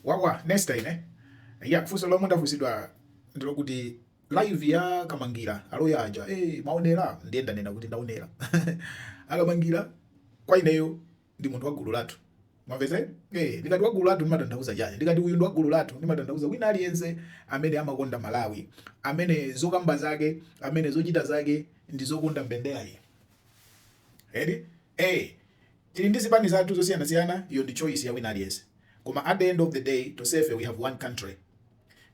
Wawa Nesta ine. Eya funso lomwe ndafunsidwa ndilokuti live ya Kamangira aloya aja eh mwaonera ndiye ndanena kuti ndaonera. Akamangira kwa ineyo ndi munthu wa gulu lathu. Mwamvetse? Eh ndikati wa gulu lathu ndimatanthauza chani? Ndikati uyu ndi wa gulu lathu ndimatanthauza wina aliyense amene amakonda Malawi, amene zokamba zake, amene zochita zake ndi zokonda mbenderayi. Eti? Eh Tili ndi zipani zathu zosiyanasiyana iyo ndi choice ya wina aliyense koma at the end of the day tonsefe we have one country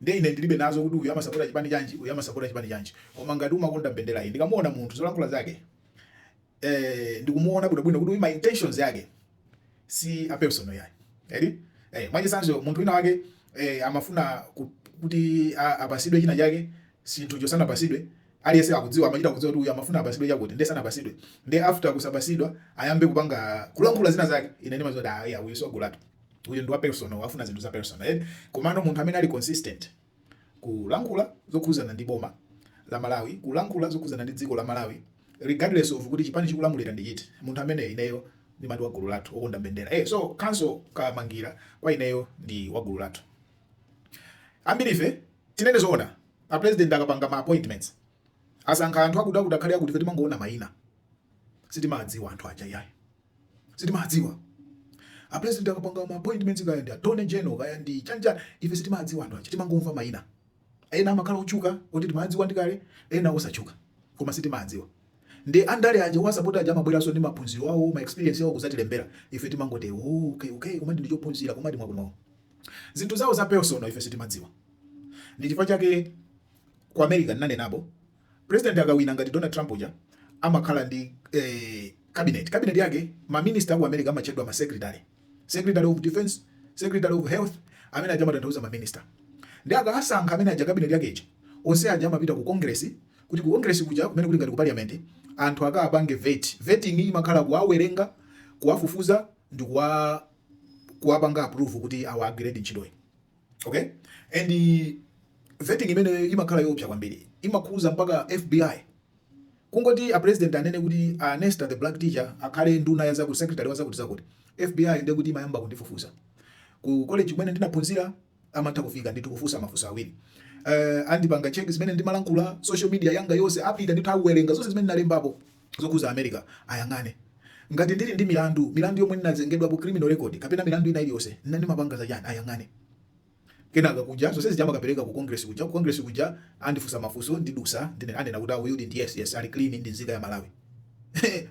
nde ine ndilibe nazo kuti uyu amasapota chipani chanji uyu amasapota chipani chanji koma ngati umakonda mbenderayi ndikamuona munthu zolankhula zake eh ndikumuona bwinobwino kuti uyu ma intentions yake si a personal yayi eti eh mwachitsanzo munthu wina wake eh amafuna ku- kuti a- apasidwe china chake chinthucho sanapasidwe aliyense akudziwa amachita kudziwa kuti uyu amafuna apasidwe chakuti nde sanapasidwe nde after kusapasidwa ayambe kupanga kulankhula zina zake ine ndimadziwa kuti aya uyu si wa gulu lathu uyu ndi wa personal wafuna zinthu za personal eh? komano munthu amene ali consistent kulankhula zokhuzana ndi boma la Malawi kulankhula zokhuzana ndi dziko la Malawi regardless of kuti chipani chikulamulira ndi chiti munthu ameneyo ineyo ndimati wa gulu lathu okonda mbendera eh so counsel Kamangira kwa ineyo ndi wa gulu lathu Ambirife tinene zoona, a president akapanga ma appointments asankha anthu akuti akuti akhale akuti, ife timangoona maina sitimadziwa anthu aja iyayi sitimadziwa. A president akapanga ma appointments kaya ndi attorney general kaya ndi chani, ife sitimadziwa anthu aja, timangomva maina ena amakhala otchuka oti timawadziwa ndi kale, ena osatchuka koma sitimadziwa nde andale aja owasapota aja amabweranso ndi maphunziro awo ma experience awo kudzatilembera ife timangoti okay okay komadi ndi ophunzira komadi ndi wakuno Zinthu zawo za personal ife sitimadziwa. Ndi chifukwa chake ku America ndinanenapo, president akawina ngati Donald Trump uja amakhala ndi eh, cabinet. Cabinet yake ma minister aku America amatchedwa ma secretary. Secretary of Defense, Secretary of Health, amene aja amatanthauza ma minister. Nde akasankha amene aja cabinet yake ija, onse aja amapita ku Congress kuti ku Congress kuja kumene kuli ngati ku parliament anthu akapange vet. Vetting imakhala kuwawerenga, kuwafufuza ndi kuwa kuwapanga approve kuti awa agiredi ntchitoyi okay and vetting imeneyo imakhala yoopsa kwambiri imakhuza mpaka FBI kungoti a president anene kuti Nesta the black teacher akhale nduna ya zakuti secretary wa zakuti zakuti FBI ndiye kuti imayamba kundifufuza ku college kumene ndinaphunzira amatha kufika ndithu kufunsa mafunso awiri uh, andipanga check zimene ndimalankhula social media yanga yonse apita ndithu awerenga zonse zimene ndalembapo zokhuza america ayang'ane ngati ndili ndi milandu milandu yomwe ndinazengedwa ku criminal record kapena milandu ina iliyonse nna ndimapanga za chani ayang'ane kenaka kuja zonse zija amakapereka ku congress kuja ku congress kuja andifunsa mafunso ndidutsa ndiye anena kuti uyu ndi yes yes ali clean ndi nzika ya malawi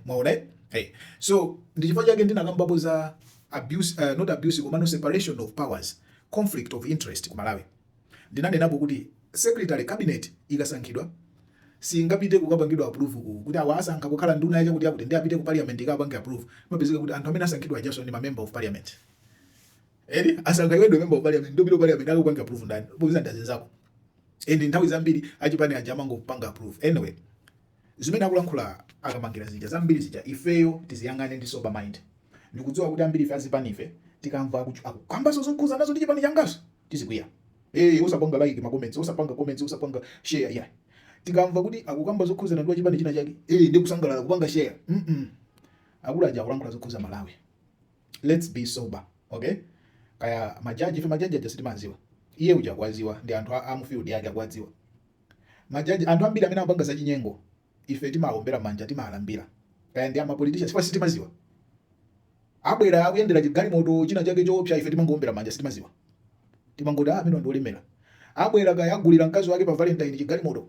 mwaona eh hey. so ndi chifukwa chake ndinakambapo za abuse uh, not abuse komano separation of powers conflict of interest ku Malawi ndinanenapo kuti siketi cabinet ikasankhidwa singapite kukapangidwa approve ku kuti awa asankha kukhala nduna yachakuti akuti ndi apite ku parliament ikapange approve mapezeka kuti anthu amene asankhidwa ajaso ndi ma member of parliament eri eh, asankha iwe ndo member of parliament ndiye ku parliament ali kupanga approve ndani popeza ndi azinzako and nthawi zambiri achipani aja amangopanga approve anyway Zimene akulankhula a Kamangira zija zambiri zija ifeyo tiziyang'ane ndi sober mind. Ndikudziwa kuti ambirife azipanife tikamva akukamba zokhuzana ndi chipani changaso tizikwiya. Eee osapanga like ma comments, osapanga comments, osapanga share iyayi. Tikamva kuti akukamba zokhuzana ndi wachipani china chake, ee ndikusangalala kupanga share. Mm akulu aja akulankhula zokhuza Malawi. Let's be sober, okay? Kaya majaji ife majaji aja sitimaziwa. Iye uja akwaziwa ndi anthu a mu field yake akwaziwa. Majaji anthu ambiri amene amapanga za chinyengo ife timawombera manja timawalambira kaya ndi ama politician chifukwa sitimaziwa abwera akuyendera chigalimoto china chake choopsa ife timangowombera manja sitimaziwa timangoti ah amene ndi olemera abwera kaya agulira mkazi wake pa valentine chigalimoto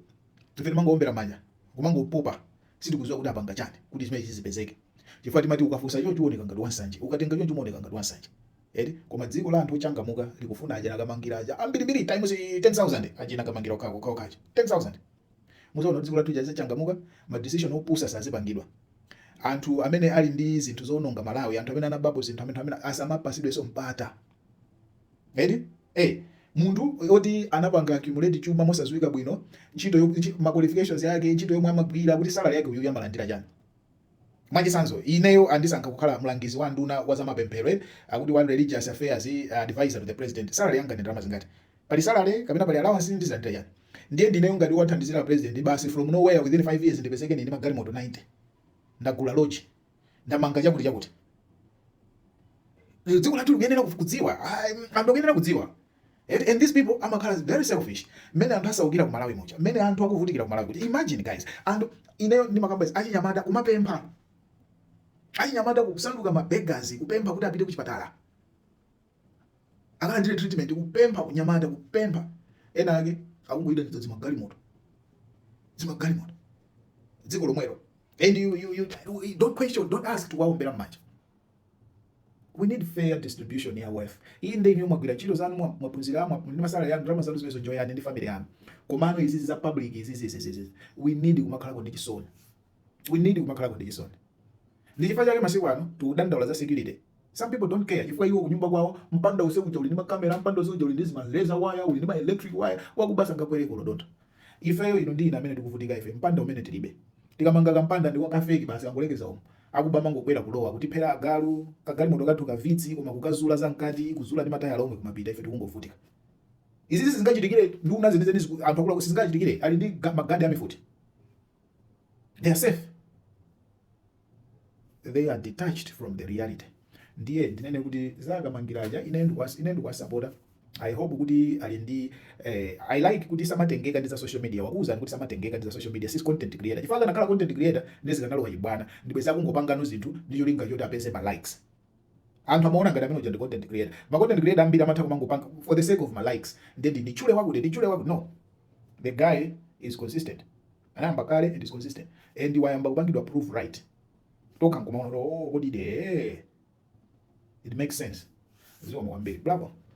ife timangowombera manja kumangopopa sitikuziwa kuti apanga chani kuti zimene zizipezeke chifukwa timati ukafunsa choncho uoneka ngati wansanje ukatenga choncho umaoneka ngati wansanje Eti koma dziko la anthu ochangamuka likufuna aja a Kamangira aja ambirimbiri times 10000 aja a Kamangira okhawo okhawo kaja 10000 muzaona dziko lathu jaza changamuka ma decision opusa sazipangidwa anthu amene ali ndi zinthu zoononga Malawi anthu amene anabapo zinthu amene amene asamapasidweso mpata eti eh munthu oti anapanga accumulate chuma mosaziwika bwino ntchito ma qualifications yake ntchito yomwe amagwira kuti salary yake uyu amalandira chani Mwachitsanzo, ineyo andisankha kukhala mlangizi wa nduna wa zamapemphero akuti one religious affairs advisor to the president salary yanga ndi ndalama zingati? Pali salary kapena pali allowance ndizalandira chani? Ndiye ndineyo ngati wathandizira president basi from nowhere within 5 years ndipezeke ndili ndi magalimoto 90 ndagula lodge ndamanga chakuti chakuti dziko lathu likuyenera kudziwa anthu akuyenera kudziwa Eti and these people amakhala very selfish. Mmene anthu asaukira ku Malawi muja. Mmene anthu akuvutikira ku Malawi kuja. Imagine guys. Anthu ineyo ndimakamba izi achinyamata kumapempha. Achinyamata kusanduka ma beggars kupempha kuti apite ku chipatala. Akalandire treatment kupempha kunyamata kupempha. Ena ake akungoyenda ndi zimagalimoto. Zimagalimoto. Dziko lomwelo. And you, you, you, you don't question, don't ask kuwaombera mmanja. We need fair distribution ya wealth. Iyi ndi inu mwagwira ntchito zanu mwa mwaphunzira mwa ndi ma salary anu ndalama zanu zimezo enjoy ndi family yanu. Komano izi za public izi izi izi izi. We need kumakhala ndi chisoni. We need kumakhala ndi chisoni. Ndi chifukwa chake masiku ano tikudandaula za security. Some people don't care. Chifukwa iwo kunyumba kwawo mpanda usiku uja uli ndi makamera, mpanda usiku uja uli ndi zima razor wire, uli ndi ma electric wire, wakuba sangakwere kolodota. Ifeyo inu ndi ine amene tikuvutika ife mpanda umene tilibe. Tikamanga kampanda ndi wa ka fake basi kangolekeza umu. Akuba amangobwera kulowa kutiphera agalu, kagalimoto kathu ka Vitz komwe kukazula za mkati, kuzula ndi matayala omwe kumapita ife tikungovutika. Izizi sizingachitikire nduna zenizeni ziku, anthu akuluakulu sizingawachitikire ali ndi ga, magadi a mifuti. they are safe they are detached from the reality ndiye ndinene kuti za akamangira aja ine ndikuwasapota i hope kuti ali ndi eh, i like kuti samatengeka ndi za social media wakuuzani kuti samatengeka ndi za social media si content creator chifukwa akanakhala content creator ndiye zikanalowa chibwana ndiye bwenzi akungopangano zinthu ndi cholinga choti apeze ma likes Anthu amaona ngati amene uja ndi content creator. Ma content creator ambiri amatha kumangopanga for the sake of ma likes ndiye ndi nditchule wakuti nditchule wakuti no. The guy is consistent. Anayamba kale and is consistent. And wayamba kupangidwa prove right. Tokha nkumaona kuti oh kodi de. It makes sense. Zikomo kwambiri. Bravo.